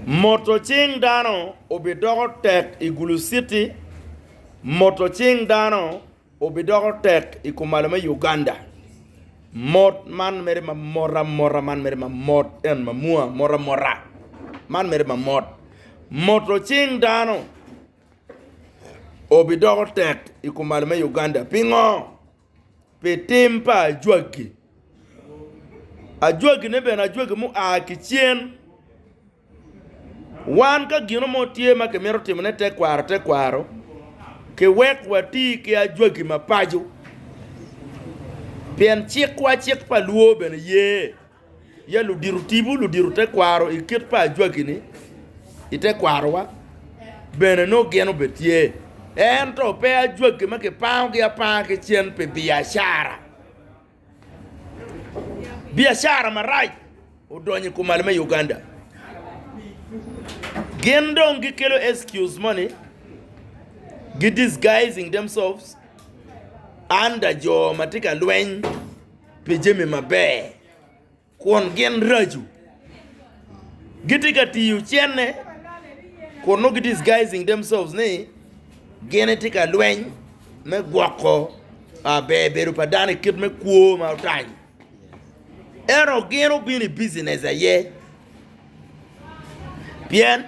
Moto cing dano obidoko tek i Gulu City Moto cing dano obidoko tek i kumalo me Uganda Mot man mere ma mot amota Man mere ma mot en ma mwa mot amota Man mere ma mot Moto cing dano obidoko tek i kumalo me Uganda Pingo? pi tim pa ajwagi. Ajwagine bene ajwagi mua ki cen. Wan ka gino mo tye ma kimito timone tekwaro tekwaro, kiwek wati ki ajwagi mapaco pien cikwa cik pa lwor bene ye. Ya ludito tipo, ludito tekwaro i kit pa Ajwaki-ni i tekwarowa bene nongo gin obed tye, ento pe Ajwaki ma kipangogi apanga ki cen pi biacara. Biacara marac odonyo i kumal me Uganda. Gin dong gikelo excuse moni, gi disguising themselves under jo ma tye ka lweny. pi jami maber kun gin raco. Gitye ka tiyo cente kun nongo gi-disguising themselves ni gin gitye ka lweny me gwoko ber bedo pa dano i kit me kwo ma otanyo. Ento gin obino i business aye pien.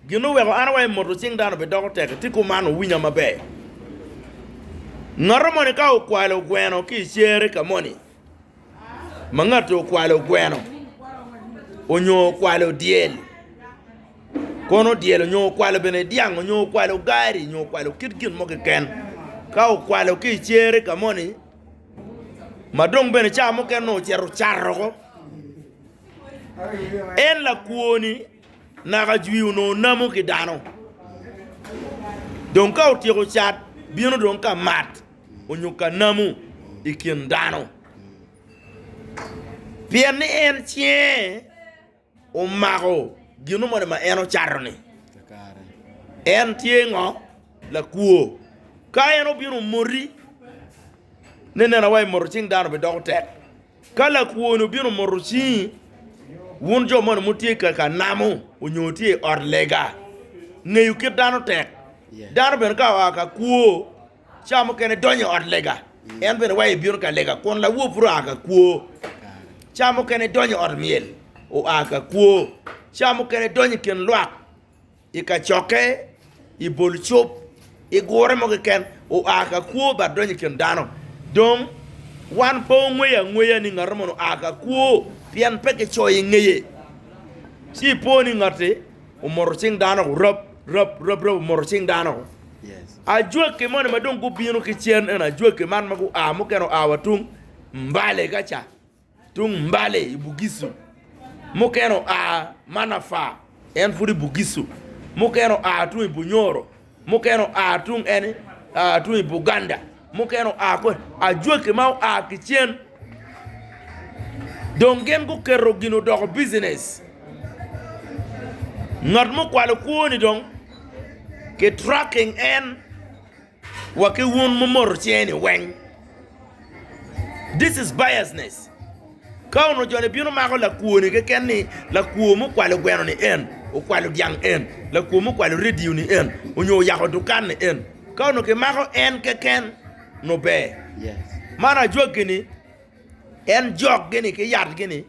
Gin ma oweko an awaco ni moto cing dano bidoko tek tye kuman, Wuwinya maber. Ngat moni ka okwalo gweno ki i cere ka moni ma ngati okwalo gweno onyo okwalo dyel, kono dyel onyo okwalo bene dyang onyo okwalo gari onyo okwalo kit gin mo keken, ka okwalo ki i cere ka moni ma dong bene ca mukene onongo ocito ocato woko, en lakwo-ni. Naka ajwi onongo namo ki dano. Dong ka otyeko cat, bino dong ka mat onyo ka namo i kin dano. Pien ni en cinge omako gino moni ma en ocato-ni. En tye ngo? Lakwo. Ka en obino omoti, ni nena wa, imoto cing dano bidoko tek. Ka lakwoni obino moto cingi, wun jo moni wutye ka ka namo onyo wutye i ot lega, ngeyo kit dano tek. Dano bene ka oa ka kwo, ca mukene donyo i ot lega, en bene wa ebino ka lega, kun lawor pud oa ka kwo. Ca mukene idonyo i ot myel, oa ka kwo. Ca mukene idonyo i kin lwak. I kacokke, i bol cob, i gure mo keken, oa ka kwo bad donyo i kin dano. Dong, wan pe wangweyo angweya ni ngat moni oa ka kwo pien pe kicoyo i ngeye. Ci ipwo ni ngatti omoto cing dano-gu rab rab rab rab omoto cing dano-gu. Ajwaki moni ma dong gubino ki cen eno ajwaki man ma gua mukene oa wa tung Mbale ka ca. Tung Mbale i Bugisu, mukene oa Manafa, en pud i Bugisu, mukene oa tung i Bunyoro, mukene oa tung eni, tung i Buganda, mukene oa kwene, ajwaki ma oa ki cen. Dong gin guketo gin odoko bijinec. Ngat mukwalo kwoni dong ki tracking en. wa ki wun mumoto cingeni weng. This is biasness. Ka onongo joni bino mako lakwoni keken ni lakwo mukwalo gweno ni en, okwalo dyang en, lakwo mukwalo radio ni en, onyo oyako dukan ni en. Ka onongo kimako en keken nongo ber. Man ajwaggi ni en jok gini ki yat gini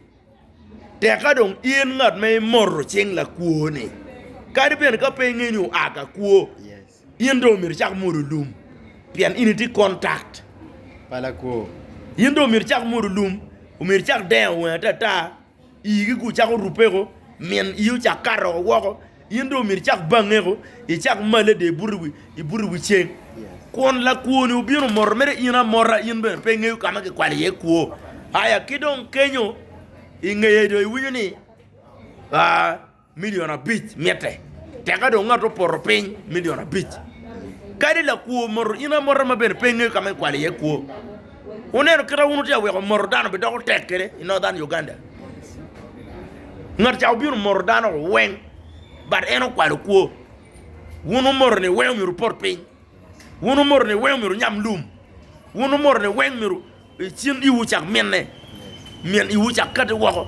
tek ka dong in ngat ma imoto cing lakwo ni. Kadi bene ka pe inge ni oa ka kwo. In dong omyero icak mwodo lum, pien in itye kontact pa lakwo. In dong omyero icak mwodo lum, omyero icak dengo wangi atata, ii gi gu cako rubeko, min ii ocak kato oko woko, in dong omyero icak bangeko, icak malle de ibuto iwi ibuto iwi ceng. Kun lakwoni obino moto mere in amota, in bene pe ingeyo ka ma kikwalo iye kwo. Aya ki dong kenyo ingeye dong iwinyo ni aa. Milion abic mitte, teka dong ngat opoto piny milion abic. Kadi lakwo moto in amota ma bene pe ingeyo ka ma ikwalo iye kwo. Wuneno kit ma wun wutye ka weko moto dano bidoko tek kwede i Northern Uganda? Ngat ca obino moto dano weng but en okwalo kwo. Wun wumoto ni weng omyero wupot piny, wun wumoto ni weng omyero wunyam lum, wun wumoto ni weng omyero. I cen iwu cak mine, min iwu cak kati woko,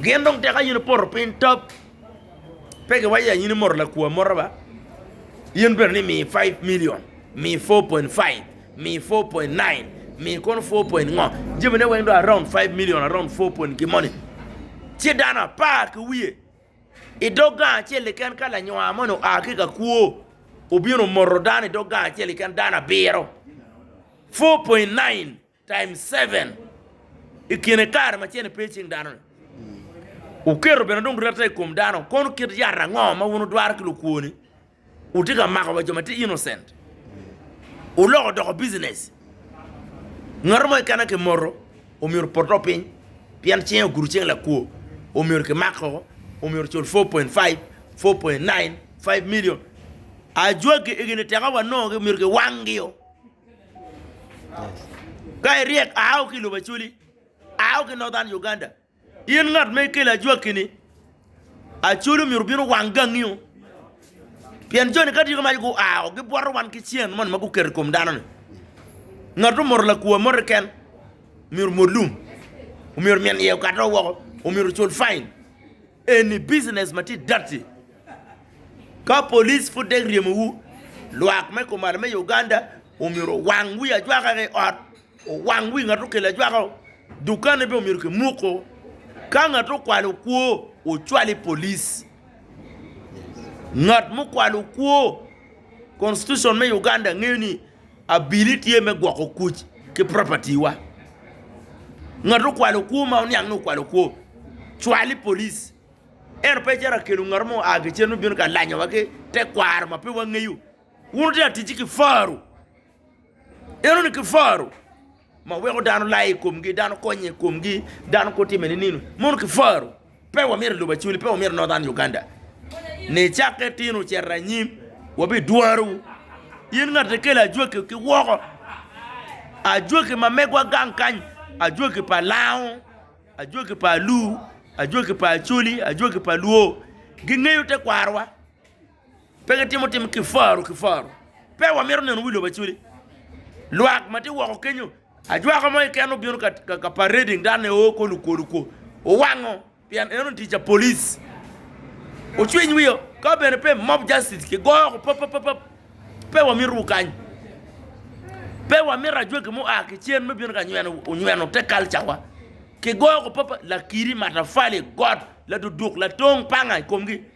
gin dong tek aye nipoto piny top. Pe giwaco ya in imoto lakwo amota ba, in bene ni mii five million, mii four point five, mii four point nine, mii kono four point ngo, jami ne weng dong around five million, around four point gin moni. Ci dano apar ki wiye i dog gang acel keken ka lanywa moni oa ki ka kwo obino omoto dano i dog gang acel keken dano abiro. 4.9 times 7 i kine kare ma cene pe i cing dano-ni. Wuketo bene dong rette i kom dano, kono kit yat ango ma wun wudwaro ki lukwo-ni? Wutye ka mako wa jo ma tye innocent, wuloko odoko business. Ngat mo keken ki moto omyero opot dok piny pien cinge ogudo cing lakwo, omyero ki mak woko, omyero ocul 4.5, 4.9, 5 million. Ajwagi egi ni teka wanongo gi omyero ki wang gi o. Ka iryek, ao ki i lobo Acholi, ao ki i Northern Uganda, in ngat ma ikelo ajwaki-ni, Acholi omyero obin owang gangi-o, pien joni ka tye ka maco gua-o, gibwoto wan ki cen moni ma guketo i kom dano-ni. Ngat ma omoto lakwo amote keken myero omot lum, omyero min iye okate woko, omyero ocul fain. Eni business ma tye dirty. Ka police pud dek ryemo wu, lwak me kumalo me Uganda omyero owang wi ajwaka ki ot, owang wi ngat okelo ajwaka o, dukane bene omyero ki muko. Ka ngat okwalo okwo, ocwal i police. Ngat mukwalo okwo, constitution me Uganda ngeyo ni Abili tye me gwoko kuc ki property wa. Ngat okwalo kwo ma oniang ni okwalo kwo, cwal i police. Ento pe icito akelo ngat mo oa kicen me bino ka lanyo wa ki tekwaro ma pe wangeyo. Wun wutye ka ticci ki faru. Ineno ni ki faru. ma weko dano laye i komgi, dano konye i komgi, dano kwo time ninino, mono ki faro, pe wamyero elubo acoli, pe wamyero Northern Uganda ni cakke itino ocito anyim wabi dwarowu, in ngat ma ikelo ajwaki ki woko, ajwaki ma megwa gang kany, ajwaki pa lango, ajwaki pa alur, ajwaki pa acoli, ajwaki pa luo gingeyo tekwarowa. Pe gitimo tim ki faro ki faro. Pe wamito neno wi lobo acoli. Lwak ma tye woko kenyo, ajwaka mo keken obino ka parading dok ne oo ko lukwo lukwo. Owango pien eno tic a police. Ocwiny wiyo ka bene pe mob justice ki goyo oko pap pap pap. Pe wamito wu kany. Pe wamito ajwaki mu a ki cen me bino ka nyweno te culture wa. Ki goyo oko pap pap lakiri, matafali, got, laduduk, latong panga i komgi.